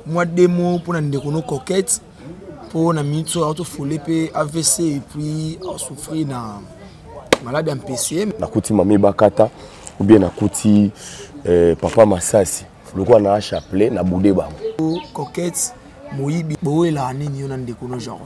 mwa demo mpo na ndeko no coquette mpo na minute oyo atofole mpe avc epuis asouffrir na malade ya mpcm nakuti mami bakata obie nakuti eh, papa masasi lokola na chapelet na boude bango coquette moyibi bowelaa nini yo na ndeko no genre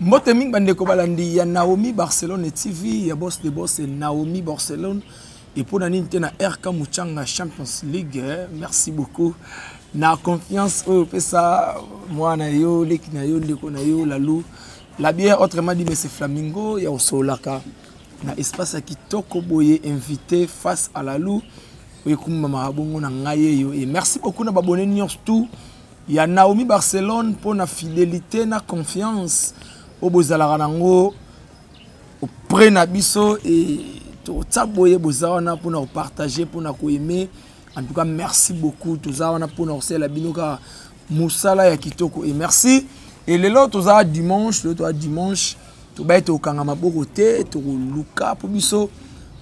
mbote mingi bandeko balandi ya naomi barcelone tv ya bos de bos naomi barcelone epo na nini te na rk muchanga champions league eh, merci beaucoup na confiance oyo opesa mwana na yo leki na yo ndeko na yo lalu la bière autrement dit mese flamingo ya osololaka na espace ya kitoko boye invité face à lalu oyekumamaka bongo na ngai eyo e merci beaucoup na babone nyonso tout ya Naomi Barcelone mpo na fidelite na confiance oyo bozalaka nango auprès na biso e totya boye boza wana mpo na kopartage mpo na koaime en tout cas merci beaucoup toza wana mpo na kosalela bino kaka mosala ya kitoko e merci e lelo toza dimanche lelo toza dimanche tobaye tokanga maboko te tokoluka mpo biso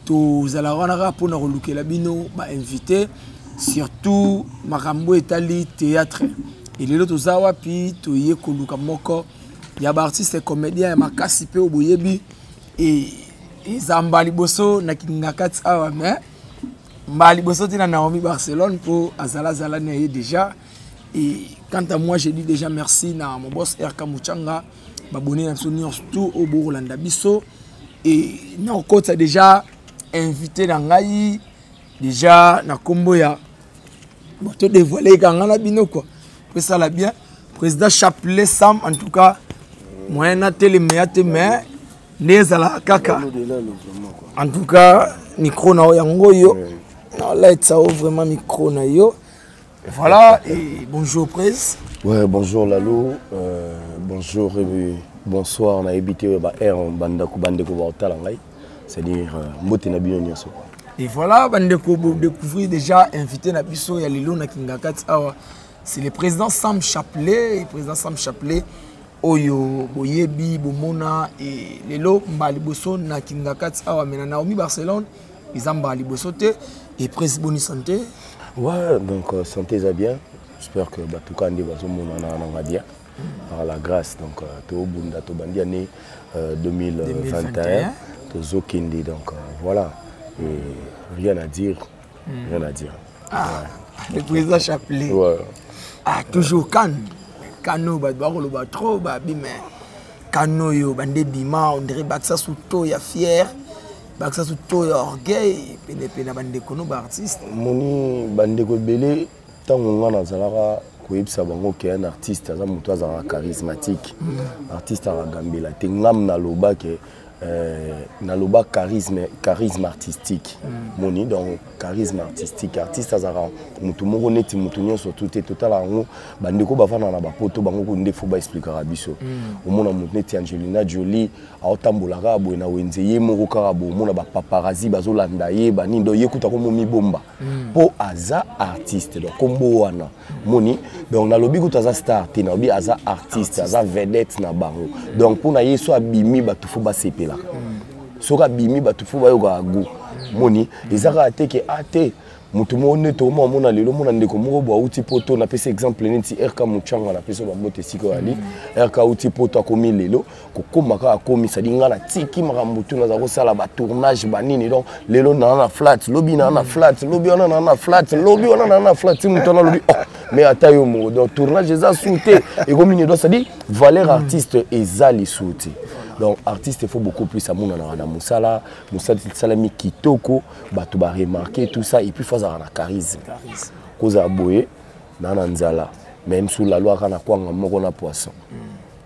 tozalaka wana kaka mpona kolukela bino bainvité surtout makambo etali théâtre elelo toza wapi toye koluka moko ya baartiste comédien ya makasi mpe oyo boyebi e, eza mbala liboso na kingakati awa mais mbala liboso te na naomi barcelone mpo azalazala na ye déjà e quant à moi je dis déjà merci na mon boss rk muchanga babone na biso nyonso tu oyo bokolanda biso e nakokotisa deja invité na ngai deja na nkombo ya bato devoile ekanga na bino kua po esala bien président chapelet sam en tout cas moyen natelemeya te mais nde ezalaka kaka en tout cas micro na yo yango oyo naolatisa yo vraiment micro na yo Voilà, et bonjour Prez. Ouais, bonjour Lalo, euh, bonjour et euh, bonsoir, on a évité euh, bah, air, on bande de bande de c'est-à-dire, euh, mbote na bino nyoso. Et voilà, bande de découvrir déjà invité na biso ya lelo na Kingakati awa. C'est le président Sam Chapelet, le président Sam Chapelet oyo boyebi bomona et lelo mbali boso na Kingakati awa mais na Naomi Barcelone eza mbala liboso te epres boni santé ouais donc euh, santé eza bien j'espère que bato ka nde bazomonana nanga bien par la grâce donc euh, tobunda tobandi année 2021 euh, tozokende donc voilà et rien à dire hmm. rien à dire ah, ouais. le président chapelet ouais. ah, toujours kane kano bato bakoloba trop babime kano oyo bande bima ondire bakisa suto ya fiere bakisa so to ya orgueil penepene na bandeko no baartiste omoni bandeko ebele ntango ngai nazalaka koyebisa bango ke un artiste aza moto azalaka charismatique mm. artiste akagambela te ngam naloba ke Euh, naloba charisme charisme artistique mm. moni donc charisme artistique artiste azalaka motu moko neti motu nyonso tu te totala yango bandeko bafanda na bapoto bango kundi fo baexplikaka biso mm. omona motu neti angelina jolie aotambola kaka boye na wenze ye moko kaka boye omona bapaparazi bazolanda ye banini donc ye kuta komo mibomba mpo hmm. aza artiste donc kombo wana moni donc nalobi kuta aza star te nalobi aza artiste aza vedette na bango donc mpo na ye so abimi bato fo basepelaka hmm. soki abimi bato fo bayokaka go hmm. moni eza kaka te ke a ah, te moto moko nde tokoma omona lelo omona ndeko moko bo auti poto napesi exemple neti rk muchanga napesi yo babote esika oyo ali rk auti poto akomi lelo kokoma kaka komi sadi ngai natiki makambo tu naza kosala batournage banini donc lelo naa na flat lobi naa na flat lobi wana naa na flat lobi wana naa na flat ti moto wana lobi oh mais ata yo moko donc tournage eza su te ekomi nini donc cestadi valeur artiste eza lisu te donc artiste il faut beaucoup plus amonanaka na mosala mosala esalami kitoko bato baremarke tout ça et puis faut azalaka na charisme kozala boye naa na nzala même sous la loi kaka na kwanga moko na poisson mm.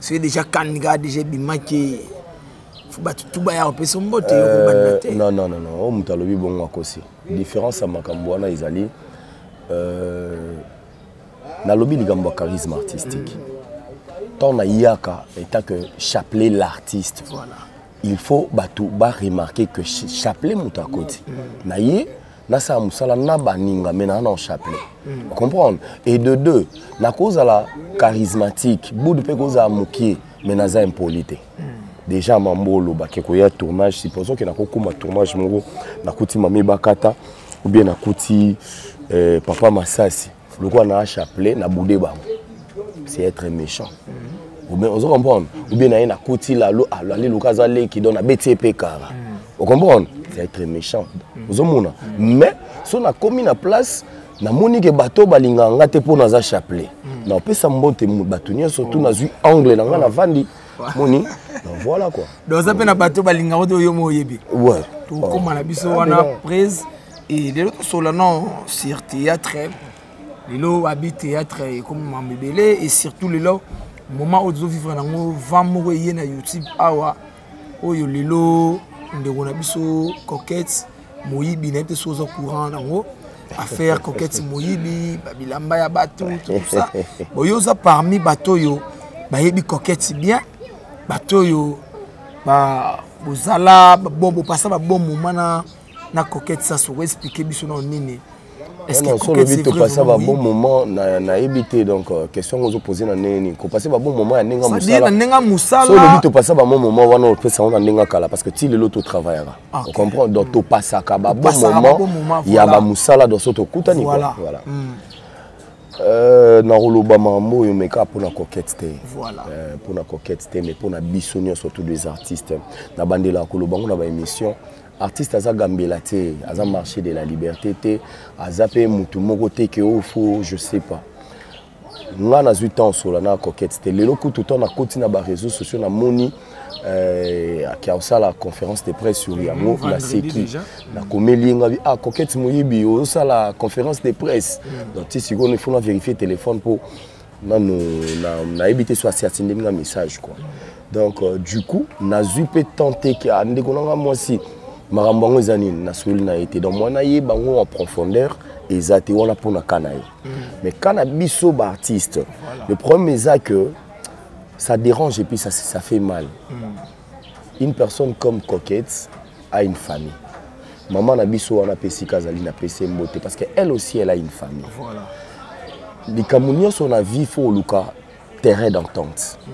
soki deja kani kaka deja ebimaki fo bato tu baya kopesa mbote yo kobanda euh, te non non non oyo oh, moto alobi bongo akosi différence ya makambo wana ezali euh, nalobi likambo ya charisme artistique ntango nayaka etant que chapelet l'artiste voilà. il faut bato baremarke que chapelet moto akoti mm. na ye nasala mosala na baninga me naa na chapelet mm. comprendre et de deux nakozala charismatique budu mpe kozala mokie me naza impoli te mm. déjà mambo olobaki koya tournage supposons ke nakokoma tournage moko nakuti mami bakata ou bien nakuti eh, papa masasi lokola na chapelet na boude bango c'est être méchant mhm. ozo comprendre ou bien naye nakuti lalo alali luka aza leki donc nabeti ye mpe kara mhm. ocomprendre c'est être méchant mhm. ozomona mais so nakomi na place namoni ke bato balingaka nga te mpo naza chapelet napesa mbote bato nyonso tu oh. nazwi angle na nga navandi oh. moni voilà quoi donc oza mpe na bato balingaka te oyo mo oyebi okoma na biso wana prise Et lelo tosolola non sur théâtre lelo abi théâtre ekomi mambo ebele et surtout lelo moment oyo tozovivre nango vent moko eye na youtube awa oyo lelo ndeko na biso coquette moyibi nayebi te soki oza courant nango affaire coquette moyibi babilamba ya bato tout ça boye oza parmi bato oyo bayebi coquette bien bato oyo bozala bopasa babon moment na na coquette sasu ko expliquer biso na nini solobi topasa babon moment nayebi te donc euh, question yango ozopose na ndenge nini kopase babon moment ya ndenge mosalana mosalasolobi topasa bamon moment wana opesa yango na ndenge ya kala parce que ti lelo totravaillaka ah, ocomprendre donc topasaka babon moment ya bamosala donc so tokutani voilà hmm. euh, nakoloba makambo oyo meka mpona coquette te mpona euh, coquette te mais mpona biso nyonso tous les artistes nabandelaka koloba yango na baémission artiste aza gambela te aza marché de la liberté te aza mpe motu moko te ke oyo oh, fo je sais pas nga nazwi temps osola na coquette te lelo kutu ntango nakoti na bareseau sociaux namoni euh, ake osala conférence de presse sur yango mm, naseki nakomeli ye ngabi ah coquette moyibi osala conférence de presse mm. donc ti sikoyo ifona vérifie téléphone mpo nanu nayebi te so asi atindeli nga message quoi donc euh, du coup nazwi mpe temps te ke ah, ndeko na nga mwasi makambo yango eza nini nasoli na ye te donc mwana ye bango en profondeur eza te wana mpo na ka na ye mm. mais ka na biso baartiste le problème eza que ça dérange et puis ça, ça fait mal mm. une personne comme coquette a une famille maman na biso wana mpe esika azali na pese mbote parce que elle aussi elle a une famille voilà. likambo nyonso na vie fo oluka terrain d'entente mm.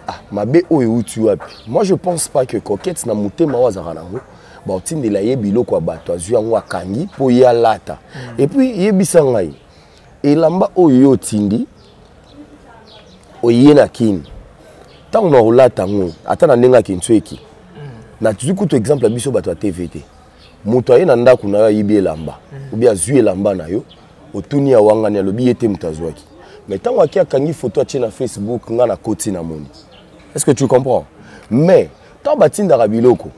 ah, mabe oyo euti wapi moi je pense pas que coquette na motema oyo azalaka nango baotindela ye biloko ya bato azwi yango akangi mpo ye alata mm. epuis yebisa ngai elamba oyo yo otindi oye na kini ntango na olata yango ata na ndenge akinsueki mm. nazwi kutu exemple ya biso bato ya tv te moto aye na ndako na yo ayibi elamba mm. obi azwi elamba na yo otuni awangani alobi ye te moto azwaki mais ntango ake akangi foto atie na facebook ngai nakoti na moni est ce que tu comprends mais ntango batindaka biloko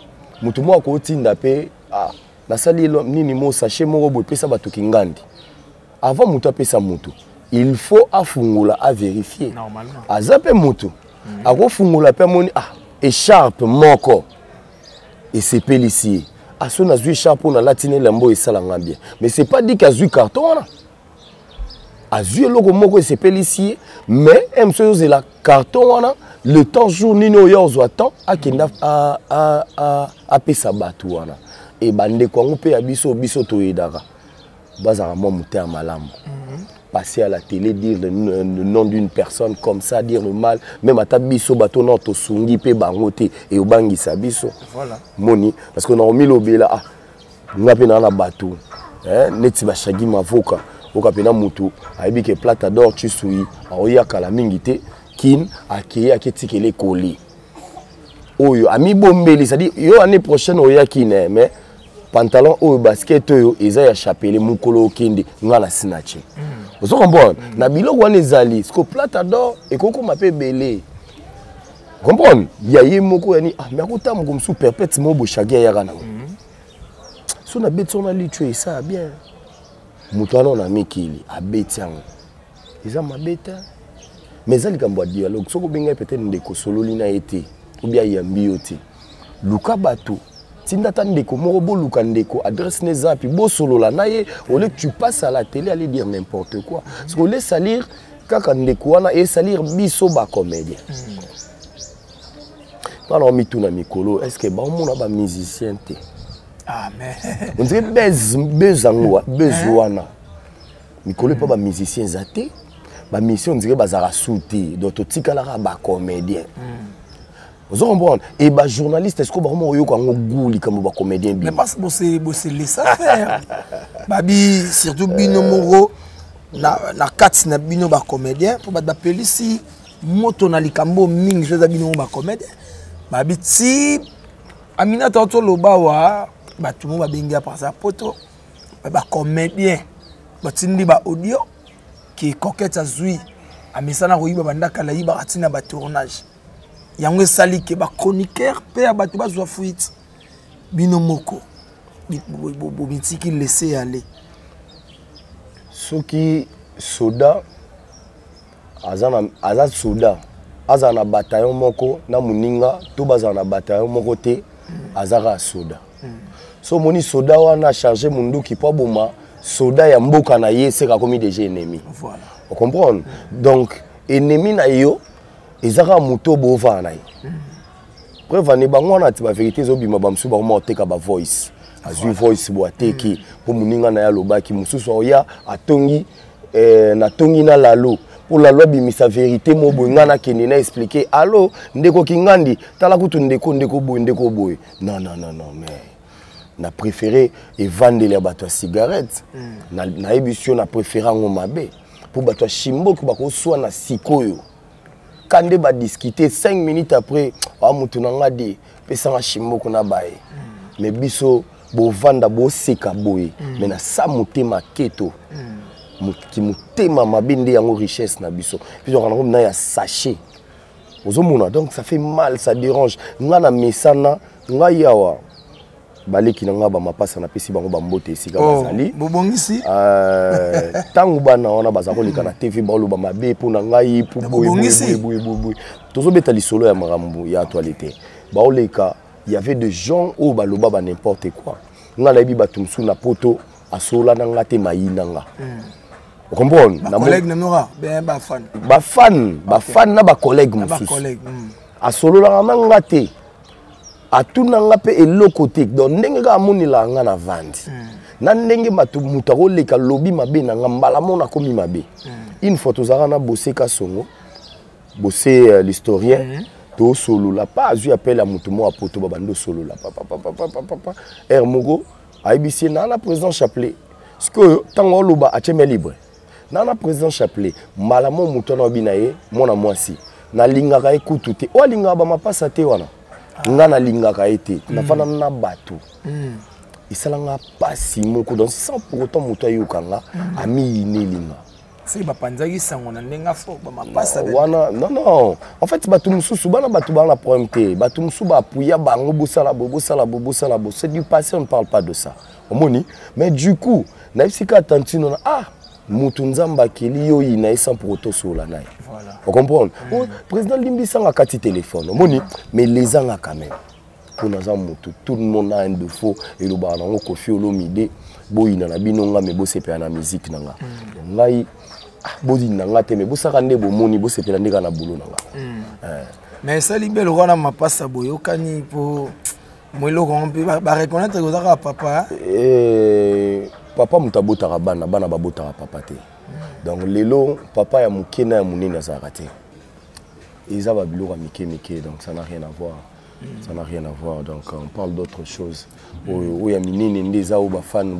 moto moko akotinda mpe ah, nasali elo nini mo sachet moko boye pesa bato kingandi avant moto apesa moto il faut afungola averifie aza mpe moto mm. akofungola mpe amoni ah echarpe moko esepelisi ye aso ah, nazwi echarpe oyo nalati na elambo oyo esala ngai bien mais c'est pas dit ke azwi carton wana azwi eloko moko esepelisi ye mais m soki ozela carton wana le temps jour nini oyo ya ozwa temps akenda apesa bato wana e bandeko yango mpe ya biso biso toyedaka bazalaka mwa motema malamu mhm. passer à la télé dire le, le, le nom d'une personne comme ça dire le mal même ata biso bato nao tosungi mpe bango te eyobangisa biso voilà. moni parce que naomilobela ah, nga mpe naa na bato eh, neti bashagi mavoka oka mpe na moto ayebi ke plata dor chisui aoya kala mingi te kin akei aketikela ekoli oyo amibombeli cestadi yo année prochaine oya kin eh, mais pantalon oyo basket oyo eza ya chapele mokolo okende nga na sinache mm. ozo comprendre mm. na biloko wana ezali siko plata dor ekokoma mpe ebele comprendre ya ye moko yani ah mais akota moko mosusu perpète moko boshagi ayaka nango mhm. so nabeti yango na litio esaa bien moto wana ona mikili abeti yango eza mabe te mais eza likambo ya dialogue soki obengai peut-être ndeko sololi na ye te obi ayambi yo te luka bato tinda ata ndeko moko boluka ndeko adresse ne zapi bosolola na ye ole tu passe à la télé aller dire n'importe quoi parce que ole salir kaka ndeko wana esalir biso bacomédien mpana omituna mikolo est ce que baomona bamusicien te ah, ondire bese yango bese wana mikolo epa bamusicien eza te bamusicien ondire bazalaka su te donc totikalaka bacomédien mm. ozo comprendre et ba journaliste est-ce que bakoma koyoka yango goût likambo ba comédien bi mais parce que bose bose laissa faire babi surtout bino moko na na kati na bino ba comédien mpo bato bapelisi moto na likambo mingi so eza bino moko ba comédien babi ti aminata toloba wa bato moko babengi ya parsa poto ba comédien batindi ba audio ke coquette azwi amesana koyiba bandakala yibaka ntina ba tournage yango esali ke bachroniqueur mpe ya bato bazwa fuite bino moko bomitiki laisse yale soki soda aza, na, aza soda azala na bataillon moko na moninga to bazala na bataillon moko te aza kaka soda so omoni soda wana charge monduki mpo aboma soda ya mboka na ye seka akomi deja ennemi voilà. ocomprendre donc ennemi na yo eza kaka moto oyo bovana na ye preuve ane bango wana ti baverité ezobima bamosusu bakoma koteka bavoice azwi voice bo ateki mpo mm. moninga na ye alobaki mosusu aoya atongi eh, natongi na lalo mpo lalo abimisa verité mo boye ngai nakende na explike alo ndeko kingandi tala kutu ndeko ndeko boye ndeko boye non non non non mais na préféré evandeli ya bato ya cigarette mm. nayebisi yo na préféré yango mabe mpo bato ya shimboki bakoswana sikoyo ka nde badiskute 5 minutes après a ah, motu na nga de pesanga shimboko na baye mm. me biso bovanda boseka boye mm. me na sa motema keto mm. kimotema mabe nde yango richesse na biso biso akanako mina ya sachet ozomona donc ça fait mal ça dérange nga na mesana ngai awa baleki na ngai bamapasa napesi bango bambote esika oh, bazali bobongisi ntango euh, bana wana baza koleka na tv baoloba mabe mpo na ngai mpoboyeboyeboyeboyeboye tozobeta lisolo ya makambo ya actualité baoleka y avait de gens oyo baloba ba n'importe quoi ngai nayebi bato mosusu na poto asola na nga te mayi na nga hmm. okomprone bafane bafane na bacollègue mosusu hmm. asololaka na nga te atuna nga mpe eloko te donc ndenge kaka amonelaka nga na vandi mm. na ndenge bato moto akoleka lobi mabe na nga mbala mona akomi mabe mm. une fois tozalaka na bose kasongo bose uh, l'historien mm -hmm. tosolola pa azwi apele ya moto moko apoto babandi osolola papapapapapa heure moko ayebisi ye naa na président chapelet sikoyo ntango oloba atyeme libre na na président chapelet mbala mo moto wana obi na ye mwana mwasi nalingaka ye kutu te oyo alingaka bamapasa te wana nga nalingaka ye te mm. nafanda na bato mm. esala nga mpasi moko donc sans pour autant moto ayoka nga mm. amiyineli nga soki bapanzaki sango na ndenge afo bamapasa wana non non en fait bato mosusu bana bato baa na problème te bato mosusu baapuya bango bosala bo bosala bo bosala bo c'est du passé on ne parle pas de ça omoni mais du coup nayebisi kaka tantino na ah mutu nzambe akeli yo yina ye sans pour otosola na ye ocomprendre mm. oh, président limbisanga kati telefone omoni mais lezanga quand même mpo naza mutu tout le monde a un defaut elobaka nango kofi olomide boyina na bino nga me bosepela na miziki na nga mm. ngai ah, boyina na nga te me bosaka nde bomoni bosepela nde kaka na bolo na nga mm. eh. mais esali belo wana mapasa boyokani mpo mo eloko yango mpe bareconnaitre koza kaka papa eh, papa moto abotaka bana bana babotaka papa te donc lelo papa ya moke na ya monene azalaka te eza babiloko ya mike mike donc ça n'a rien à voir ça n'a rien à voir donc on parle d'autre chose oyo oyo ya minene nde eza oyo bafane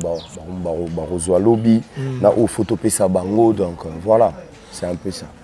bakozwa lobi mm. na oyo fo topesa bango donc voilà c'est un peu ça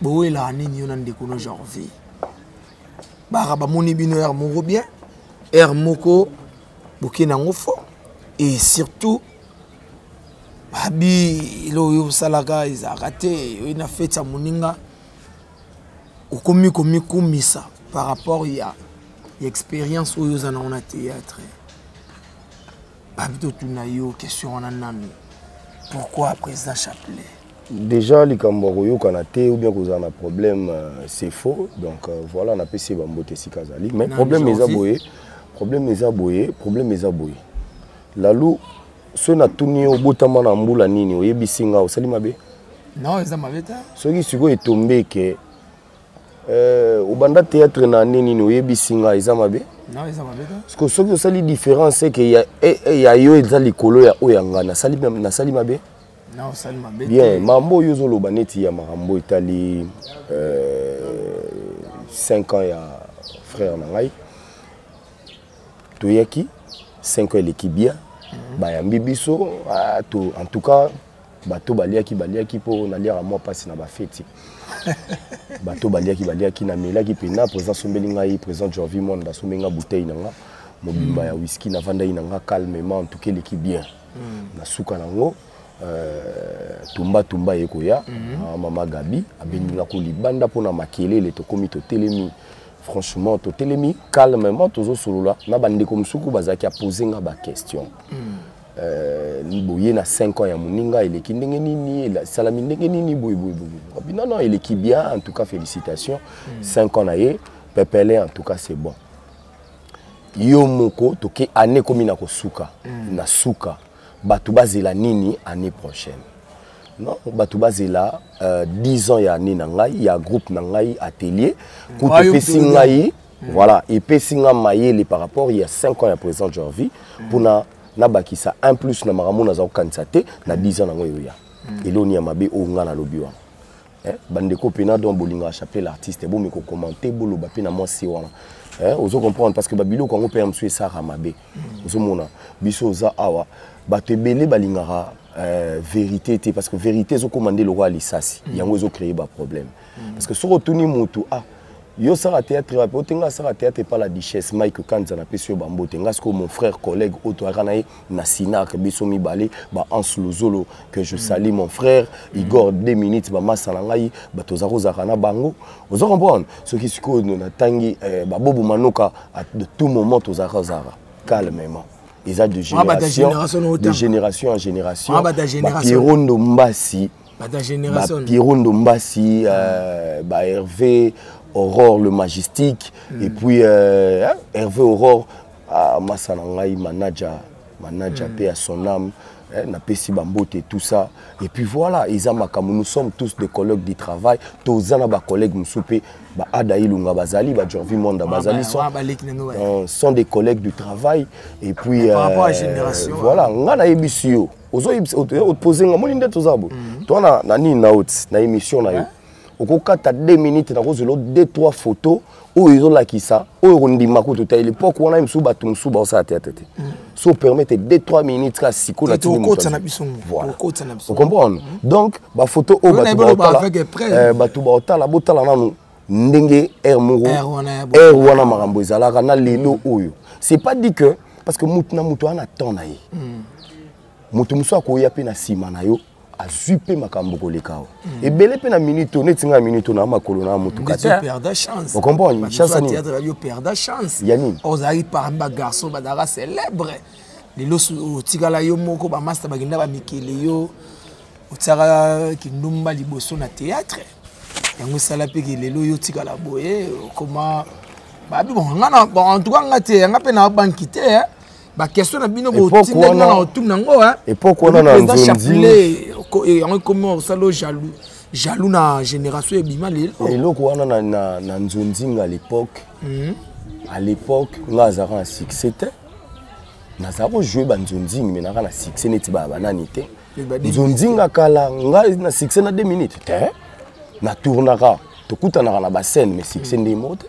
bowelaa nini yo na ndeko no jorvi baka bamoni bino heure moko bien heure moko boke nango fo et surtout babi elo oyo osalaka ezalaka te oyo na feti ya moninga okomi komikumisa par rapport ya expérience oyo oza nango na théâtre babi totuna yo question wana nanu pourquoi président chapelet déjà likambo ya koyokana te ou bien kozala na problème euh, c'est faux donc euh, voilà napesi ye bambote esika azali mais problème eza boye problème eza boye problème eza boye lalu soki natuni yo obotama na mbula nini oyebisi nga osali mabe non eza mabe te soki sikoyo etombe ke Euh, obanda théâtre na année nini oyebisi nga eza mabe parceke soki osali différence eke ya eh, eh, yo eza likolo ya oyo ya nga nasali mabe bien mambo oyo ozoloba neti ya makambo etali 5 euh, ans ya frère na ngai toyaki 5 ans eleki bien mhm. bayambi biso ah, en tout cas bato baliaki baliaki mpo naliaka mwa mpasi na bafeti bato baliaki baliaki namelaki mpena président asombeli ngai président jorvi monde asombeli ngai bouteille na nga mobimba ya whisky navandaki na nga calmement en tout cas eleki bien hmm. na suka nango euh, tumba tumba ye koya hmm. ah, mama gabi abengi nga ko libanda mpo na makelele tokomi totelemi franchement totelemi calmement tozosolola na bandeko mosuku bazalaki apose nga baquestion mm. Euh, boye na 5 ans ya moninga eleki ndenge nini esalami ndenge nini boyeboyeboye non non eleki bien en tout cas félicitation 5 hmm. ans na ye pepele en tout cas c'est bon yo moko toke année ekomi na kosuka hmm. na suka bato bazela nini année prochaine non bato bazela 10 euh, ans ya année na ngai ya groupe na ngai atelier hmm. kutu epesi ngai voilà epesi ngai mayele par rapport ya 5 ans ya présent jorvi mpona na bakisa un plus na makambo naza kokanisa te na 10 ans nango eyoya mm. eloni ya mabe oyo ngai nalobi wana eh, bandeko mpe na don bolingaka chapelet l'artiste bomi kokomante boloba mpe na mwasi wana eh, ozo comprendre parce que babiloko yango mpe ya mosusu esaka mabe mm. ozomona biso oza awa bato ebele balingaka eh, verité te parce que verité ezokoma nde lokola lisasi mm. yango ezocreye baproblème mm. mm. parce que soki otuni mutu ah yo osala théâtre wapi ote ngai asala théâtre epa la duchesse mike kanza napesi yo bambo te ngai sikoyo mon frère collègue oyo toyaka na ye na sinac biso mibale bahanse lozolo que je sali mon frère mm. igor deux minutes bamasa na ngai bato oza kozalaka na bango oza comprendre soki sikoyo natangi eh, babobo manoka de tout moment tozalaka ozalaka calmement eza de ah, génération de génération en génération ah, pierro ndombasi Pierrot Ndombasi, euh, bah, Hervé, Aurore le Majestique, mm. et puis euh, hein, Hervé Aurore, ah, Massa Nangai, Manaja, Manaja, mm. paix à son âme, hein, na pesi bambote tout ça et puis voilà eza makambo nous sommes tous des collègues du travail toza na bacollègue mosusu mpe baada ilunga bazali bajorvi monda bazali sont, euh, sont des collègues du travail et puis euh, voilà ngai nayebisi yo ozoyebisa nga moni nde toza bo mhm. to na, na nini na oti na émission na yo okokata 2 minutes nakozela 2 3 photo oyo ezolakisa oyo kondima kutu ta lepoke wana mosusu bato mosusu baosala teatre te mhm. so opermete 2 3 minutes kaka sikoyo na tiocomprendre donc bafoto oyo bato baotala botala nanu ndenge air moko air wana makambo ezalaka na lelo oyo c'est pas dit que parce que motu na motu ana temps na ye hmm. motu mosusu akoya mpe na nsima na yo azwi mpe makambo koleka awa hmm. ebele mpe na minute oyo neti ngai minute oyo na makolo na motuka te okomprendre chance nini ya nini ozalaki parmi bagarçon bazalaka célèbre lelo otikala yo moko bamasta bakenda bamikele yo otiaka kindumba liboso na théâtre yango esala mpe ke lelo yo tikala boye okoma babi bongana en tout cas nga te yanga mpe na banki te eh. baquestion na bino botinda nga na otuna yango eh. epoke wana na nzonzi eh, yango ekomi osala jaloux jaloux na génération ebima lelo eloko wana na nzonzinga à l'époque mhm. à l'époque nga azalaka na succès te nazala kojoue banzonzingi me naka na succès neti baya banani te nzonzinga kala ngai na succès na 2 minutes te na tournaka tokutanaka na bascène mais succès ndenge moko te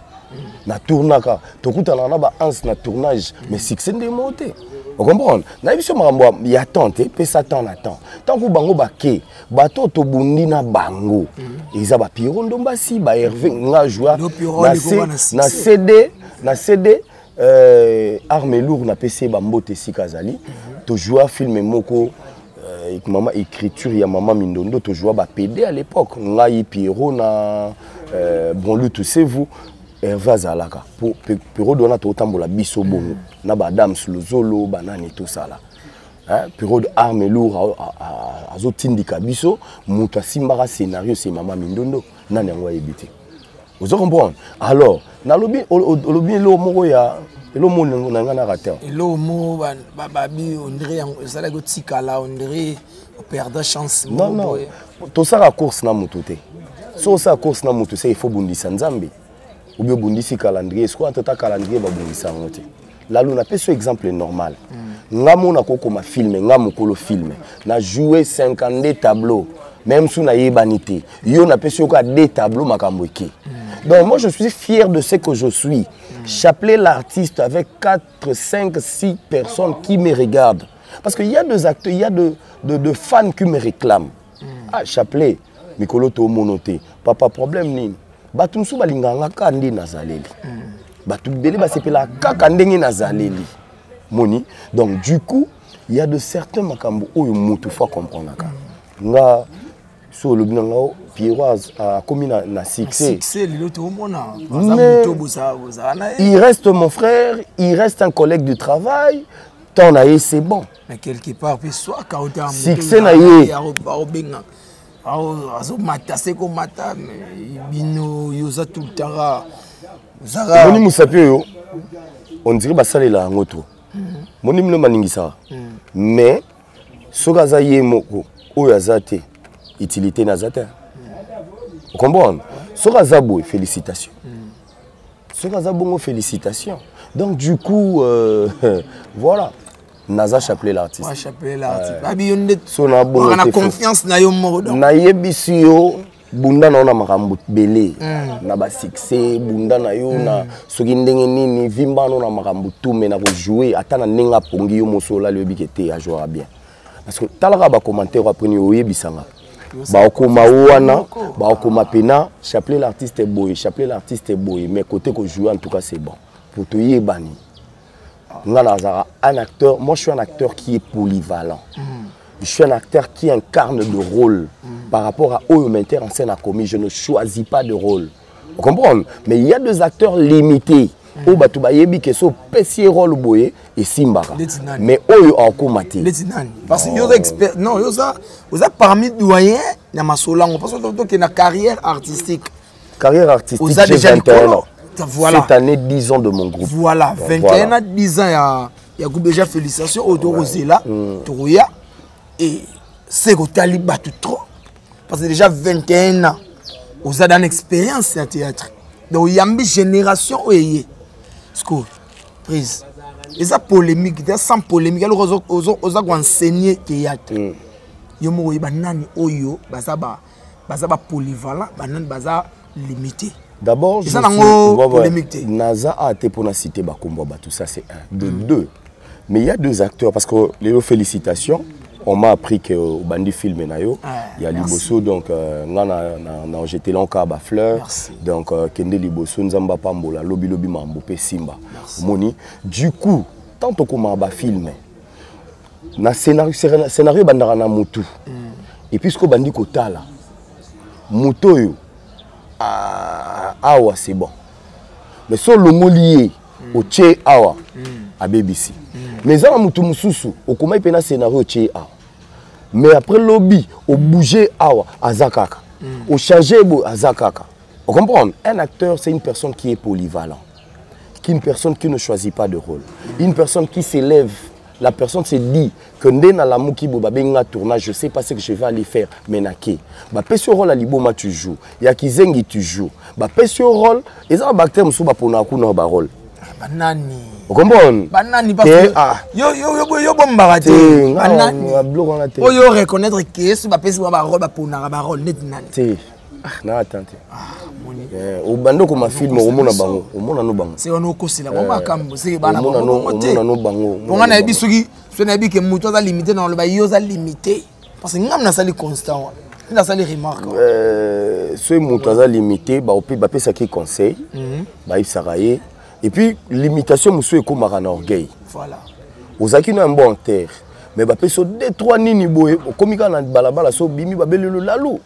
na tournaka tokutanaka na baanse na tournage mais succès ndenge moko te okomprendre nayebi so makambo ya temps te pesa temps na temps ntango bango bake bato oyo tobundi na bango mhm. eza bapiro ndombasi baherve nga joa na cd na cd Euh, arme lourd na pese ba mbote esika azali. Mm -hmm. To joua film moko euh, mama écriture ya mama Mindondo to joua ba PD à l'époque. Ngai Pierrot na euh, Bonlu tous ces vous herve azalaka po periode wana totambola biso bongo na badams lozolo banani tosala periode arme lour azotindika biso moto asimbaka scénario se mama mindondo nani yango ayebi te ozo comprendre alors nalobi olobi eloko moko ya elo mo na ngai naka te eloko mo babi ondire yango ezalaki otikala ondire operda chance non non tosaka course na motu te so osala course na motu se il faut bundisa nzambe obi obundisi calendrier sikoyo ata ta calendrier babundisa yango te lalu napesi yo exemple normal mm. nga mona kokoma filme nga mokolo filme na joue 52 tableau meme su nayebani te yo napesi yo kaka de tableau makambo eke mm. donc moi je suis fier de ce que je suis mm. chapelet l'artiste avec 4 5 6 personnes qui me regardent parce que y a des acteurs y a de, de, de fans qui me réclament mm. ah chapelet mikolo toomono te papa problème nini bato mosusu balingaka nga kaka nde nazaleli mm. bato ebele basepelaka kaka ndenge nazaleli moni donc du coup il y a de certains makambo oyo moto fo akomprenaka mm. nga so olobi na ngao pierroise akomi na, na succès il reste mon frère il reste un collègue de travail temps na ye c'est bon mais quelque part mpe swaka succès na ye azomata se komata bino yo oza tout le temps kaka omoni mosapi oyo ondire basalela yango to moni mino maningisaka mais soki aza ye moko oyo aza te utilité na aza te okomprendre soki aza boye félicitation soki aza bongo félicitation donc du coup euh, voilà naza chapelet l'artiste euh, confiance na yo moko nayebisi yo bunda na yo na makambo ebele mm. na basuccès bunda na yo mm. na soki ndenge nini vimbano na makambo tu me na kojoue ata na ndenge apongi yo moso olali oyebi ke te ajouaka bien parce que talaka ba commentaire après ni oyebisa nga bakoma wana bakoma pena chapelet l'artiste boye chapelet l'artiste boye mais côté ko jouer en tout cas c'est bon pour toyebani nga nazalaka un acteur moi je suis un acteur qui est polyvalent mm. je suis un acteur qui incarne de rôle mm. par rapport à oyo metteur en scène akomi je ne choisis pas de rôle Vous comprenez Mais il y a des acteurs limités. Mm. oyo bato bayebi ke so opesi ye role boye esimbaka mais oyo akoma te ndeti nani parce que yo oza expert non yo oza oza parmi doyen na masolo yango parce que tokende na carrière artistique carrière artistique oza déjà likolo voilà cette année 10 ans de mon groupe voilà 21 voilà. ans 10 ans ya ya groupe déjà félicitations oyo tokozela mm. tokoya et se kotali bato trop parce que déjà 21 ans oza dans expérience ya théâtre donc oyambi génération oyo eye sco prise eza polémique te sans polémique eloko oza koenseigne théâtre mm. yo moko oyeba nani oyo baza ba baza ba polyvalent banani baza limite d'abord eza nango polemique te naza a te mpona cité bakombo ya bato ça c'est un de mm. deux mais il y a deux acteurs parce que lelo félicitations on m'a appris que obandi film na yo ah, ya liboso donc euh, nga na, na, na jete lanka ba fleur merci. donc euh, kende liboso nzambe apambola lobi lobi mambo pe simba omoni du coup tant okoma ba filme na scenario scenario ebandaka na mutu mm. et puis siko bandi kotala moto oyo ah, awa c'est bon mais so olongoli ye mm. otie awa mm. abebisi mm. mais eza na motu mosusu okomaki mpe na scenario otie awa mais après lobi obouge awa aza kaka mm. ochange boye aza kaka ocomprendre un acteur c'est une personne qui est polyvalent qu'une personne qui ne choisit pas de rôle une personne qui s'élève La personne se dit que nde na lamuki bo babengi nga tournage, je sais pas ce que je vais aller faire, mais na ke. Ba pesi yo rôle liboma tu joues, ya kizengi tu joues. Ba pesi yo rôle, eza ba bactère musu ba pona ku na ba rôle. Ah, ba nani? okomona banani ah. yo bombaka te banani oyo reconnaître ke soki bapesi ba barole baponaka barole neti nani Ah, na ata te ah, eh, obanda okoma filme omona bango omona no bango se wana okosila bango eh, makambo se bana omona no bango bonga nayebi soki soki nayebi ke moto aza limite na oloba yo oza limite parce que ngai nasali constant wana nde nasali remarque eh, soki moto aza limite bapesaki conseil mhm. bayebisaka ye et puis limitation mosusu ekomaka na orgueil ozalaki na mbo en terre mais bapesi yo de trois nini boye okomi kaka na balabala so obimi babelelo lalu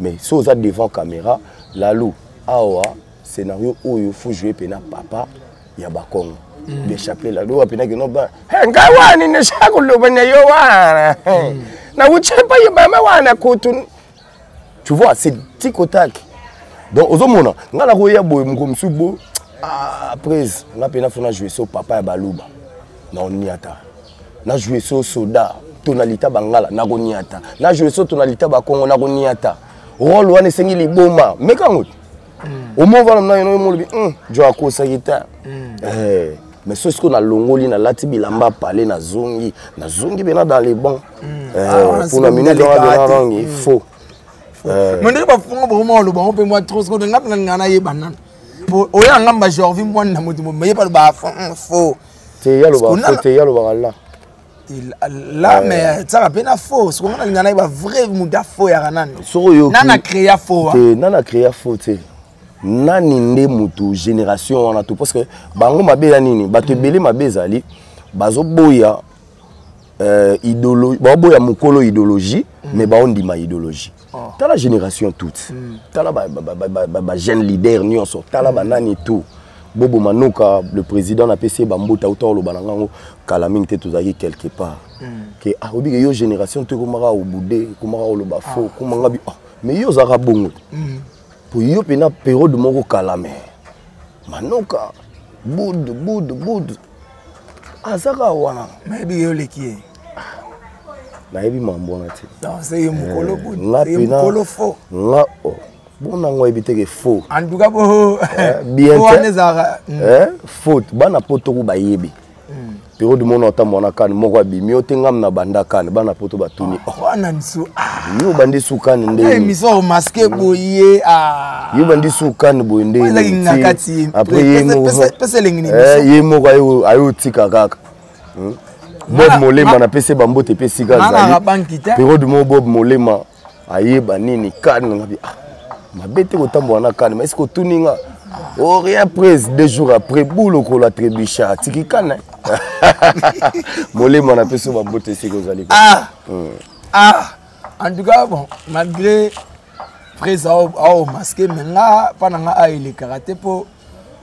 mais so oza devant caméra lalu awa scénario oyo faut jouer mpe na papa ya bakongo mm. bien chapelet lalu oyo mpenaki no ba ngai wani nesha koloba na yo wana mm. nauti epai ya mama wana kutu tu vois c'est tikotaki donc ozomona ngai nakoya boye moko mosusu bo ah, après ngai mpe nafona joue so papa ya baluba na oniata na joue so soda to na lita bangala na koniata na joue so to na lita bakongo na koniata role wana esengi liboma meka yango te omovana mna yeno omolobi jo akosaki te mais soki sikoyo nalongoli nalati bilamba pale nazongi nazongi mpena dans le bon mpona minute wana mpena nangi faux mais ndenge bafunga bokoma oloba yango mpe mwa trop sikoyo nga mpena nga nayeba nana oyo anga mba jorvi mwana na moto moyepa loba faux te ya loba ko te ya loba kala la euh. mais tsaka pe na faux soko ngana lingana ba vrai muda faux ya kanani soko yo nana créa faux te nana créa faux te nani nde mutu génération wana tout parce que bango mabe ya nini bato ebele mabe ezali bazoboya euh, idéologie baoboya mokolo idéologie mm. mais baondima idéologie oh. tala génération toute mm. tala bajeune ba, ba, ba, ba, ba leader nyonso tala mm. banani tout bobo manoka le président napesi ye bambuta uta oloba na ngango kala mingi te tozalaki quelque part mm. ke ah, obike yo génération to ekomaka obude ekomaka oloba ah. fo ekomanga bi ah, mais yo ozalaka bongo mm. po yo mpena periode moko kala me manoka bud bud bud azaka ah, wana nayebi ye oleki ye nayebi mambo wana te ye mokolo eh, fo nga oh, bona yango oyebi teke fo antuka bo eh, bien wana ezalaka hmm. eh, faute bana poto ku bayebi hmm. pero du mona ota mwana kani moko abimi ote ngam na banda kani bana poto batuni ah, wana nso ah. yo obandi sukani nde émission omaske boye yo bandi su kani boye nde après ye moko eh, ye moko aye otika kaka hmm? bob molema napesi bambote mpe esika azali periode moko bob molema ayeba nini kani ngabi ah, mabe te kotambola na kani mais sikotuni nga ori oh, après deux jours après boule okola trebucha atiki kana molema napesi bambote esika ozali ah. hmm. ah. en tout cas bon malgré prese ao masque me nga mpa na nga aelekaka te mpo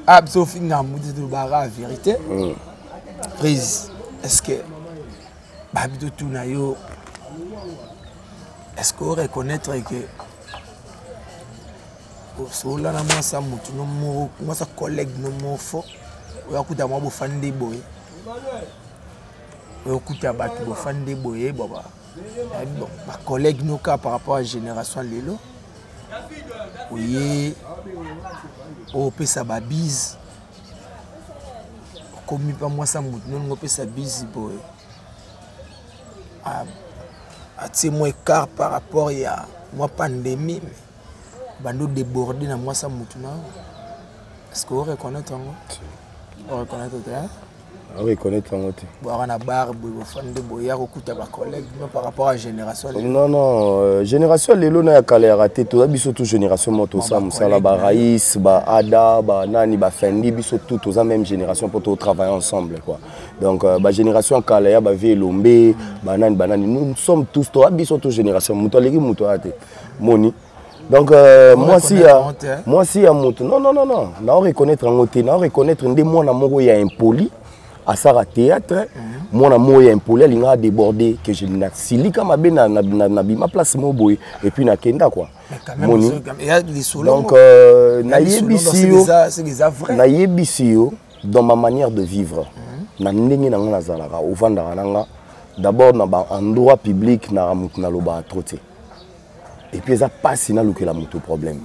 aya biso ofinga mbuti tolobaka verité mm. prise est ce que babi totuna yo est ce que oreconnaitre que osola na mwasi ya motu no moko mwasi ya collègue no moko fo oyo akuta mwa bofandi nde boye oyo okuta bato bofandi nde boye baba Eh, bon, ba collègue no ka par rapport à génération lelo oye opesa oh, babise okomi mpa mwasi ya motu nolingi opesa bise boye atie ah, mwa écart par rapport ya mwa pandémie bandi odéborde na mwasi ya motu na yo est ce que oreconnaitre yango oreconnaitre te akoreconnaitre yango te bwaka na bar boye bofandi nde boya kokuta bacollègue no par rapport à génération non non euh, génération lelo na ya kala ya rate toza biso tout génération moko tosala mosala barais baada banani bafendi biso tout toza même génération mpo totravaille ensemble quoi donc euh, bagénération ya kala ya bavie elombe banani banani nous sommes tous toza biso tout génération moto aleki moto aya te moni donc euh, mwasi ya mwasi ya moto non non non non nao reconnaître yango te nao reconnaître nde mwana moko ya impoli asala théâtre mhm. mwana moko ya impoli alingaka déborde que je nasilika mabe nabima place moko boye et puis nakenda quoi moni donc euh, nayebisi yo nayebisi yo dans ma manière de vivre mhm. na ndenge na nga nazalaka ovandaka na nga d'abord na baendroit public na moto nalobaka trop te et puis eza pasi na lukela moto problème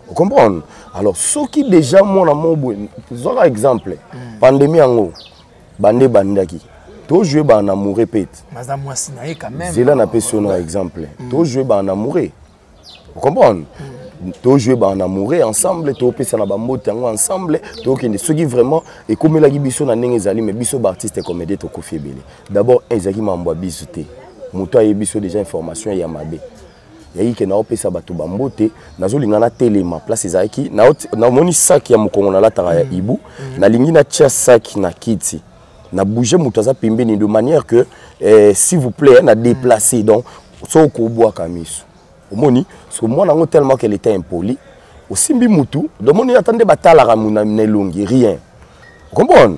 vous comprenez alors soki déjà mwana moko boye zwaka exemple hmm. pandémie yango bande ebandaki tojoue bana na moure pete zela napesi yo na exemple hmm. tojoue bana na moure vous comprenez hmm. tojoue bana na moure ensemble topesana bambote yango ensemble tokende soki vraiment ekomelaki biso na ndenge ezali mais biso baartiste comédie tokofi ebele d'abord ezalaki mambo ya biso te moto ayebi so deja information ya mabe yaki ke naopesa bato bambote nazolinga natelema place ezalaki namoni saki ya mokongo nalataka ya mm. ibu mm. nalingi natya saki na kiti na bouge moto aza pembeni de manière que eh, s'il vous plaît na déplace mm. donc soki okobwaka miso omoni parce que mwana yango tellement qu'elle était impoli osimbi mutu domoni ata nde batalaka na elongi rien okomprendre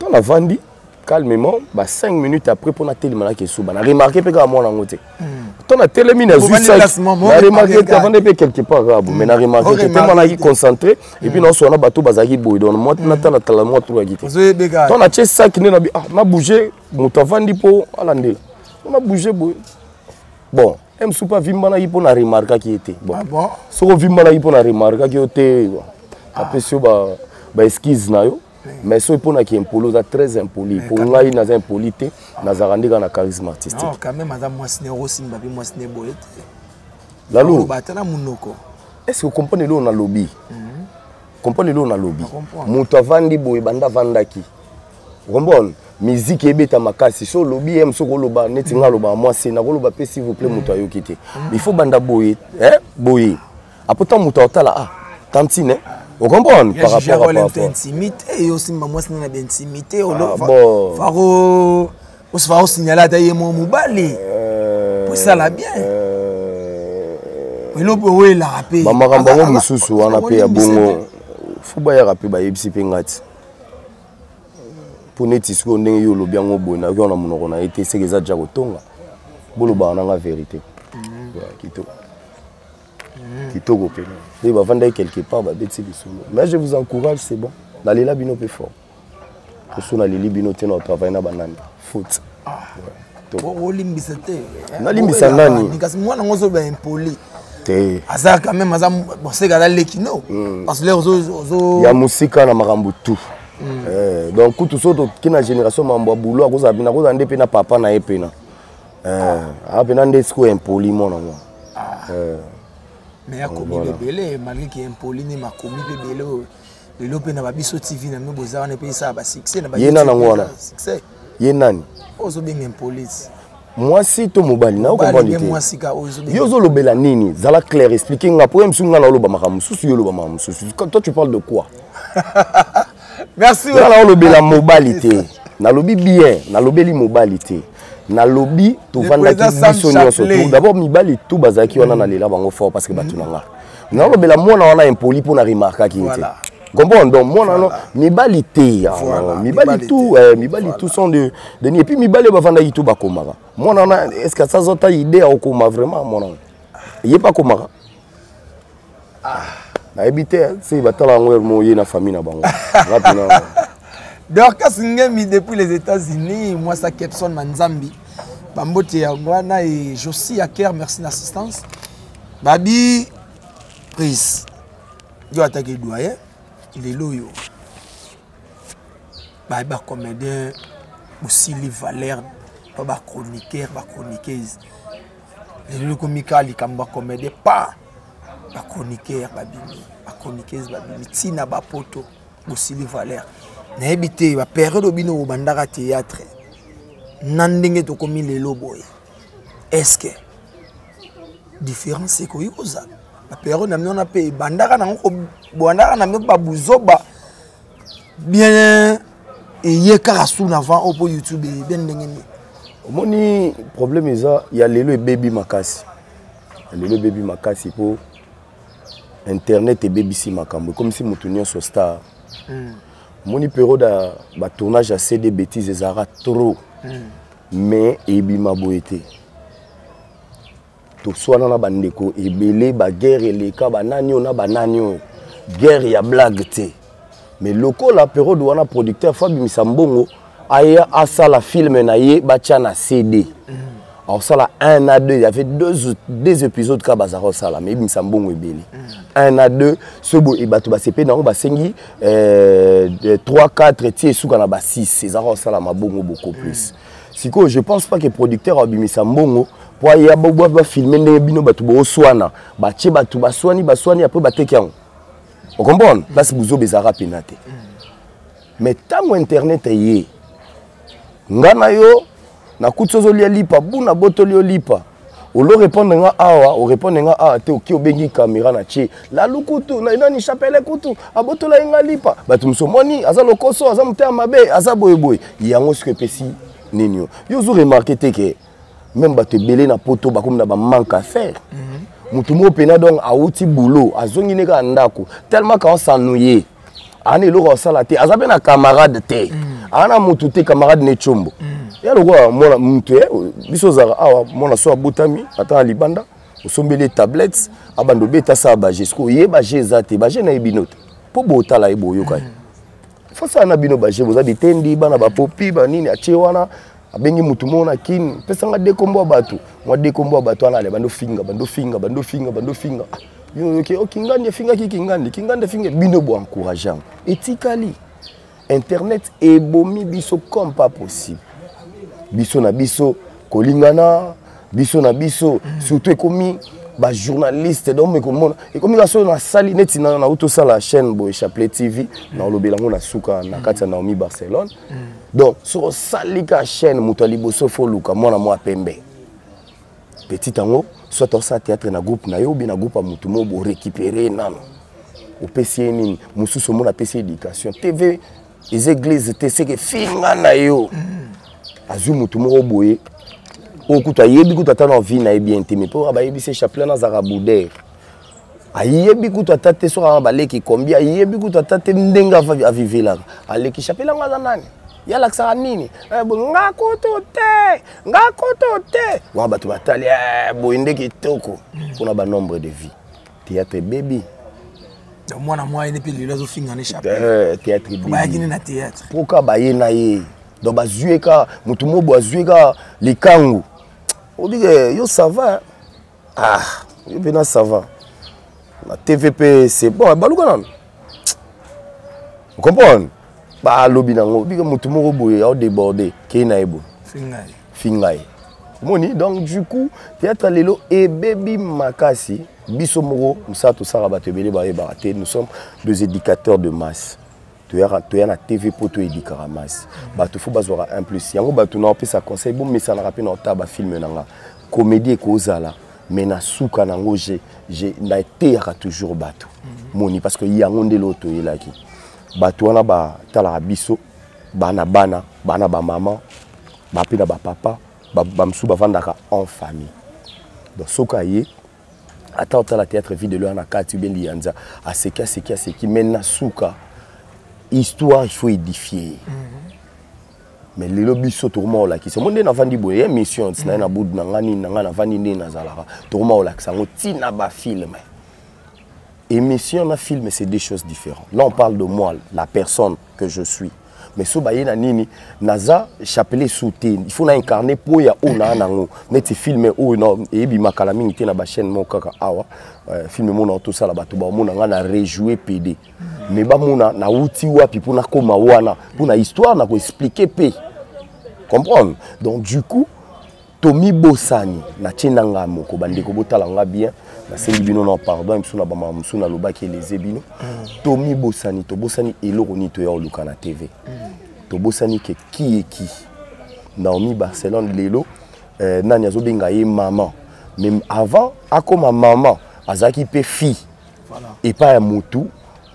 Quand la vandi calmement ba 5 minutes après pona telema na kesuba na remarquer pe ka mwana ngo te. Tant na telemi na zui ça. Na remarquer que vandi pe quelque part là, mais na remarquer que tellement na ki concentré et puis non sona bato bazaki boy donc moi na tala tala moi tout akite. Tant na che sac ne na bi ah na bouger moto avandi po ala ndela. On a bougé boy. Bon, m supa vimbanaki mpo na remarkaki ye te bon. Ah soki ovimbanaki mpo na remarkaki yo te apesi yo baeskise na yo mais soki mpo na kiimpoli oza très impoli mpo ngai naza impoli te nazalaka nde kaka na charisme artistique quand même aza mwasi ne okosimba mpe mwasi ne boye te lalo ata na monoko est ce que comprendre eloo nalobi mhm. comprendre eloo nalobi moto avandi boye banda avandaki comprendre miziki ebeta makasi so olobi ye mosoki oloba neti ngai alobaka mwasi nakoloba mpe s'il vous plaît moto ayoki te mhm. il faut banda boye eh, boye apo ntango moto aotala ah tantine ocomprendre par rapport à par intimité yo osimba mwasi na baintimité olofaro osifaro signala ata ye mwa mobali euh, po esala bien euh, eloko oyo elaka mpe bamakambo yango mosusu wana mpe ya bongo fo bayaka mpe bayebisi mpe ngai ti mpo neti sikoyo ndenge yo olobi yango boye nayoki wana monoko na ye te seke eza ja kotonga bolobaka na ngai verité mm. kitoko kitoko mpenza nde bavandaki quelque part babeti lisolo mais je vous encourage c'est bon nalela bino mpe fort poso naleli bino te na travaille na banani faute ah. olimbisa te eh, nalimbisa nani kasi mwana yango ozoba impoli te aza quand même aza boseka aza leki no hmm. parce lere ozo ya mosika na makambo tout hmm. eh, donc kutu so toki na génération mambo ya boulot akozala bina akozala nde mpe na papa na ye mpena eh, apena nde sikoyo impoli mwana mwana Ah. Euh, mais akomi voilà. ebele malgré ki impoli ni makomi mpe ebele oyo lelo mpe na babiso tv na bino boza wana mpe esala basuccès na ye nani yango wana succès ye nani ozobenga impolite mwasi to mobali na yo ozolobela nini zala clair explique nga po ya mosusu nga naoloba makambo mosusu yo oloba makambo mosusu toi tu parle de quoi merci nga naolobela mobali te nalobi bien nalobeli mobali te nalobi tovandaki biso nyonso d'abord mibali tu bazalaki wana nalela bango fort parce que bato na nga naolobela mwana wana impoli mpo na remarkaki ye te comprendre donc mwana wana mibali te mibali tout eh, mibali tout sont de deni epuis mibali oyo bafandaki tu bakomaka mwana wana est ce que asaza ata idée ya kokoma vraiment mwana wana ye mpe akomaka ah nayebi te si batala yango heure moye na famille na bango wapi na dorcas ngemi depuis les états-unis mwasa kepson manzambi bambote yango wana e josi ya ker merci na assistance babi prise yo atake doyen lelo oyo baye bacomédien bosili valeur to bachroniqueur bachroniqueuse lelo ekomi kaka likambo bacomédien pa ba chroniqueur babimi ba chroniqueuse babimi ntina bapoto bosili valeur nayebi te baperiode bino bobandaka théâtre na ndenge tokomi lelo boye estce différence ekoki kozala baperiode na bino wana mpe ebandaka nango bobandaka na bino babuzoba bien eye kaka suna avant oyo mpo youtube eye bien ndenge nini omoni problème eza ya lelo ebebi makasi ya lelo ebebi makasi mpo internet ebebisi makambo ekomisi moto nyonso star hmm. omoni mm. periode ya batournage ya cd bétise ezalaka trop mm. mais ebima boye te toswana na bandeko ebele baguerre eleka banani oyo na banani oyo guerre ya blague te mais lokola periode wana producteur fabimisa mbongo aya asala filme na ye batya na cd akosala un a deux yavait deux, deux épisodes kaka bazalaka kosala mais ebimisa mbongo ebele un a deux soki boye bato basepeli na yango basengi 3 euh, 4 ti esuka na ba 6 ezalaka kosala mabongo beaucoup plus sikoyo je pense pas que producteur abimisa mbongo mpo aya bafilme ndenge bino bato booswana batie bato baswani baswani apres bateki yango okomprendre place buzoba ezalaka mpena te mais ntango internet eye ngai na yo nakuti ozolia lipa buna botoli olipa olo répondre nga awa o répondre nga awa te oki obengi caméra na tie lalu kutu na nani chapele kutu abotola ye nga lipa bato mosusu omoni aza lokoso aza motema mabe aza boyeboye yango soki epesi nini yo yo ozo remarke te ke meme bato ebele na poto bakomi na bamanque à faire mhm. motu moko mpena donc awuti boulot azongi ne kaka ndako tellement ka osanouye ana eloko asala te aza mpe na camarade te mm. ana motu te camarade ne combo mm. ya lokola mwana motu ye biso ozalaka awa mwana so abotami ata na libanda osombeli ye tablette abanda obeta asala baje siko ye baje eza te baje na ye bino te mpo botala ye boyokani mm. fasala na bino baje boza bitendi bana bapopi banini atie wana abengi mutu moko na kin pesa nga dekombo ya bato mwa dekombo ya bato wana ale bando finga bando finga bando finga bando finga ah, yo oyoki o oh, kingandi efingaki kingandi kingandi efinga bino bo encourage yango etikali internet ebomi biso comme pas possible biso na biso kolingana biso na biso surtout ekomi bajournaliste donc mekomona ekomi ka soki nasali neti nauti osala chaîne boye chapelet tv naolobela yango na suka na kati ya naomi barcelone donc soki osali ka chaîne moto ya liboso fo oluka mwana mwa pembe petit yango soit osala théâtre na groupe na yo obi na groupe ya motu moko borécupere ye nano opesi ye nini mosusu omona apesi ye éducation tv eza église te seke finga na yo azwi motu moko boye oyo kutu ayebi kutu ata na vie na ye bien te mais mpo bayebisi chapelet nazalaka boudere ayebi kutu ata te soki aa baleki kombi ayebi kutu ata te ndenge avivilaka alekisa mpe langa aza nani ye alakisaka nini eh, nga kutu te nga kutu te wana bato batali eh, boye nde kitoko mpona banombre de vie théâtre ebebi mwana mwa ene mpe lelo azofinga ne chapeaubayaki ne na théâtre mpo ka baye na ye donc bazwi ye ka motu mobo azwi ye ka likangu obike yo sava ah yo mpe na sava na tv mpe c'est bon baluka nano comprendre balobi nango bika motu moko boye ao déborde kei na ye boye finga ye omoni donc du coup théâtre lelo ebebi makasi biso moko mosala tosala bato ebele bayebaka te nous sommes deux éducateurs de masse toyaka toya na tv mpo toyebikaka masi bato fo bazwaka un plus yango bato na opesa conseil bomesanaka mpe na otala bafilme na nga comédie ekozala mais na suka na yango nateyaka toujours bato mhm. moni parce que yango nde loo toyelaki bato wana batalaka biso bana bana bana bamama bape na bapapa bamosusu bavandaka en famille donc soki aye ata otala théâtre vie de loire na kati obe liyanza aseki aseki aseki mais na suka histoire il faut édifier mm -hmm. mais lelo biso tokoma kolakisa yango nde navandi boye émission ntina ye na budu na ngai nini na ngai navandi nde nazalaka tokoma kolakisa yango ntina bafilme émission na film c'est deux choses différentes là on parle de moi la personne que je suis mais so baye na nini naza chapelet su te il faut na incarne mpo ya oyo naa nango neti filme oyo eyebima kala mingi te na bachaîne moko kaka awa euh, filme monao tosala bato bamona ngai na rejoue pede mais bamona nauti wapi mpo nakóma wana mpo na histoire na koexplike mpe comprendre donc du coup tomibosani natie na ngai moko bandeko botala ngai bien nasengi bino na pardon biso na bamama mosusu nalobaki eleze bino mm. tomibosani tobosani eloko nini toya koluka na tv mm. tobosani ke kieki naomi barcelone lelo eh, nani azobenga ye mama mais avant akoma mama azalaki mpe fille epai ya motu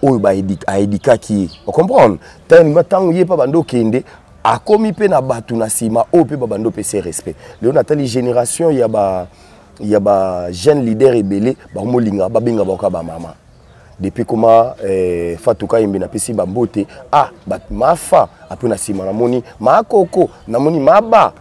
oyo aedikaki ye ocomprendre ntango ye mpe banda okende akomi mpe na bato na nsima oyo mpe babando pese respect lelo natali génération ya ba ya ba jeune leader ebele bakomolinga babenga baoka bamama depuis koma eh, fatuka yembe napesi bambote ah, mafa apre na nsima namoni makoko namoni maba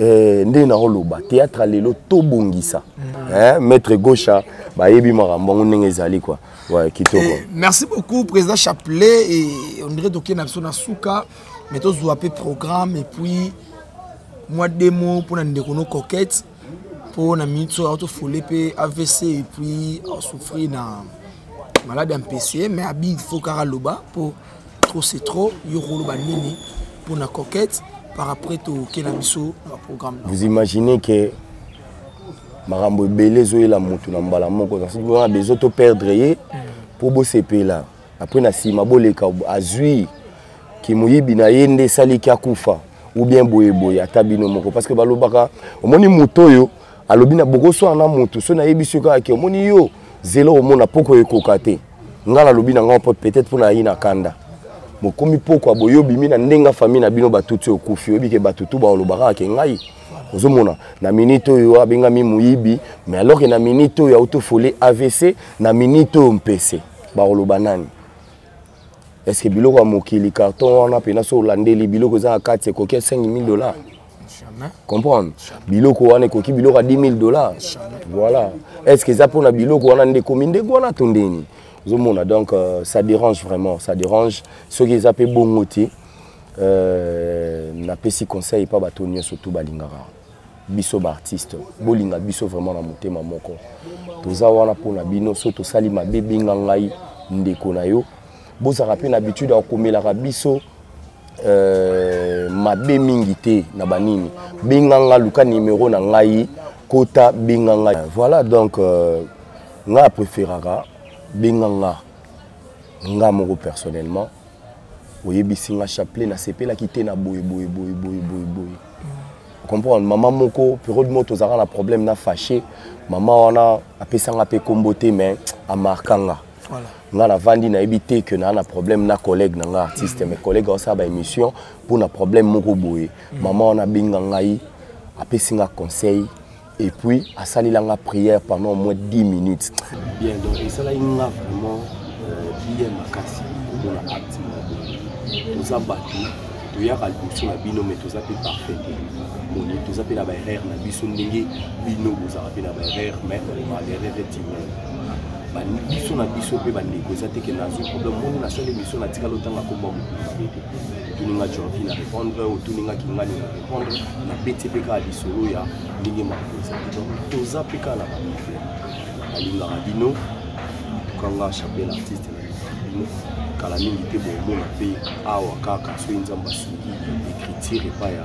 Eh, nde naoloba théâtre lelo tobongisa mm. eh, maître gaucha bayebi makambo yango ndenge ezali kua ouais, kitoko eh, merci beaucoup président chapelet et on dirait tokei na biso na suka mais tozwa mpe programme et puis mwa demo mpo na ndeko no coquette mpo na minute oyo aotofole mpe avc et puis asouffrir na malade ya mpese mais abi faut kaka loba mpo trop c'est trop yo koloba nini pour na coquette par après toke na biso na programme vous imaginez que makambo ebele ezoyela motu na mbala moko wana besoin to perdre ye mpo bosepela après na nsima boleka azwi kimoyibi na ye nde esaliki akufa ou bien boyeboye ata bino moko parce que balobaka omoni moto oyo alobi na bokoswana na motu so nayebisi yo kaka ke omoni yo zela omona mpoko ekoka te nga nalobi na nga mpo peut-être mpo nayi na kanda bokomi pokwa boye obimi na ndenge ya famille na bino batuti okufi oyebi ke bato tu baolobaka ake ngai ozomona na minute oyo abengami moyibi mais alors ke na minute oyo autofole avc na minute oyo mpese bakoloba nani estce biloko ya mokili carton wana mpena so olandeli biloko eza na kati ekoki ya 5000 dollars comprendre biloko wana ekoki biloko ya 10 000 dollars voilà est ce que eza mpona biloko wana nde ekomi ndenge wana to ndeni ozomona donc euh, ça dérange vraiment ça dérange soki eza mpe bongo te euh, napesi conseil epa bato nyonso tu balingaka biso baartiste bolinga biso vraiment na motema moko toza wana mpona bino so tosali mabe benga ngai ndeko na yo bozalaka mpe na habitude ya komelaka biso euh, mabe mingi te na banini benga nga luka nimero na ngai kota benga nga voilà donc euh, nga apréféraka benga nga nga moko personnellement oyebisi nga chapelet nasepelaki te na boye boye boye boye boye boye comprendre mama moko periode moko tozalaka na problème na fâché mama wana apesanga mpe nkombo te mais amarka nga Voilà. nga navandi nayebi te ke naa na problème na collègue na nga artiste mm. mais collègue aosala baémission mpo na problème moko boye mm. mama wana abenga ngai apesi nga conseil et puis asalela nga prière pendant au moins 10 minutes bien donc esalaki nga vraiment euh, bien makasi komona acte moko toza bato toyaka liboso na bino mais toza mpe parfait te moni toza mpe na baerreur na biso ndenge bino bozalaka mpe na baerreur mais baerreur etimai biso na biso mpe bandeko eza te ke nazwi problème moni nasali biso natikali otanga komba mokonzi te te otuninga jorvi na répondre otuninga kingani na répondre na peti mpe kaka lisolo ya ndenge makambo eza te donc toza mpe kaka na bamifere nalingaka bino tukanga chapel artiste na bino kala mingi te bomona mpe awa kaka soki nzambe asungi écriture epai ya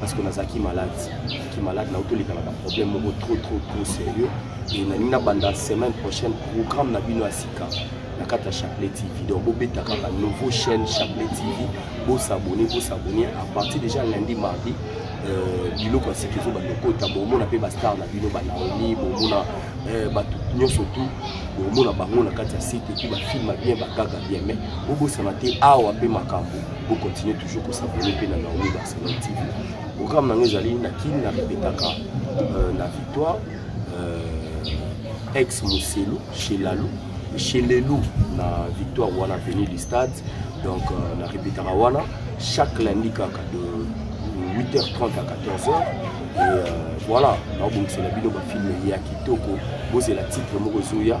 parce que nazalaki malade ki malade na otolikanaka problème moko trop trop trop sérieux et nalingi nabanda semaine prochaine programme na bino ya sika na kati ya chapelet tv donc bobeta kaka nouveau chaîne chapelet tv bosabone bosabone à partir déjà lundi mardi euh, biloko ya sika ezo bandokota bomona mpe bastar na bino banaomi bomona euh, bato nyonso tout bomona bango na kati ya site epuis bafilma bien bagaga bien mais bobosana te awa mpe makambo Bo continuer toujours ko s'abonner pe na Naomi Barcelone TV. Programme nango ezali na kin na répétaka euh, na victoire euh, ex Muselu chez Lalou chez Lelou na victoire wana venu du stade donc euh, na répétaka wana chaque lundi kaka de 8h30 à 14h et euh, voilà naobongisela bino bafilme ya kitoko bozela titre moko ezoya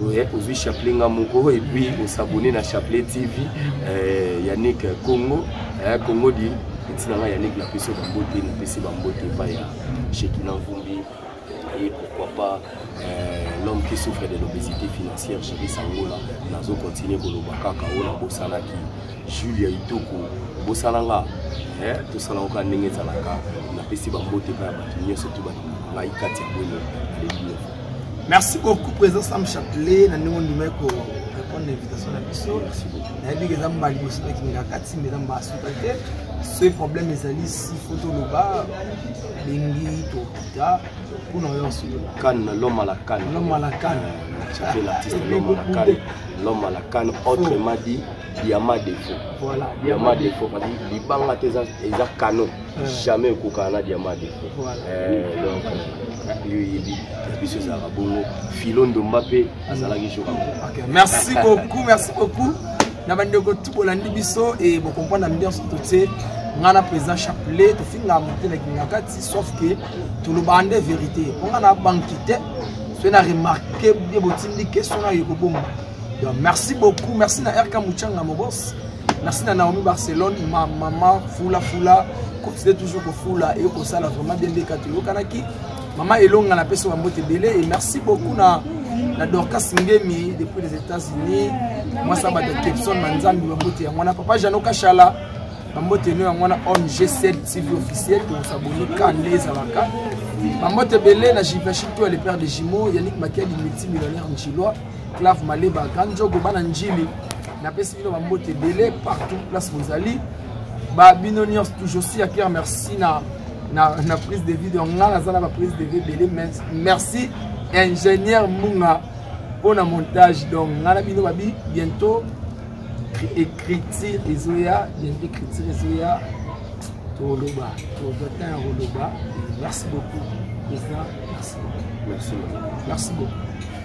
Ouais, ozwi chapelet nga moko et puis osabone na chapelet tv euh, yannick congo eh, congo di etina nga yannick napesi bambote napesi bambote epai ya shekina mvumbi et pourquoi pas euh, l'homme qui souffre de l'obésité financière géri sangola nazo continue koloba kaka oyo nabosanaki julia itoko obosana nga eh, tosala oka ndenge ezalaka napesi bambote epai ya bato nyonso to bato ngai kati ya bwele aleli merci beaucoup président sam chatelet na ndenge ondimaki ko répondre na invitation na biso nayebi ke eza mba liboso nakimela kati mbe eza mba asuka te soki problème ezali si fo toloba bengi tokita mpona oyo osolola kane na loma la kane loma la kane chatelet l'artiste loma la kane loma la kane autrement dit yama defo voilà. yama defo parce libanga te eza canon eh. jamais ekokana na diama defo eh, donc yo oyebi biso ezalaka bongo filo ndomba mpe azalaki jour merci beaucoup merci beaucoup na bandeko tu bolandi biso e bokomprendre ambiance totie ngai na président chapelet tofinga mote na kingakati sauf que tolobaka nde vérité mpo ngai na banki te soki na remarke bie botindi question nayo ekobonga donc merci beaucoup merci na rk muchanga mobos merci na naomi barcelone ma mama fula fula continue toujours kofula eye kosala vraiment bien ndeka toyokanaki mama elonga na pesa bambote ebele et merci beaucoup na na dorcas ngemi depuis les états-unis mwasi ya bato kepson manzambi bambote yango wana papa jano kashala bambote eno yango wana ong 7 tv officiel tokosaboni ka nde ezalaka bambote ebele na jivashito ya le père de jumeau yannick makiadi multimillionnaire njilois clave maleba grand jogo bana njili napesi bino bambote ebele partout place bozali babino nyonso toujours si ya pierre merci na, na, na prise de vie donc ngai naza na baprise de vie ebele merci ingénieur munga mpo na montage donc ngai na bino babi bientôt écriture ezoya bientôt écriture ezoya toloba tozata ya koloba merci beaucoup président merci beaucoup merci beaucoup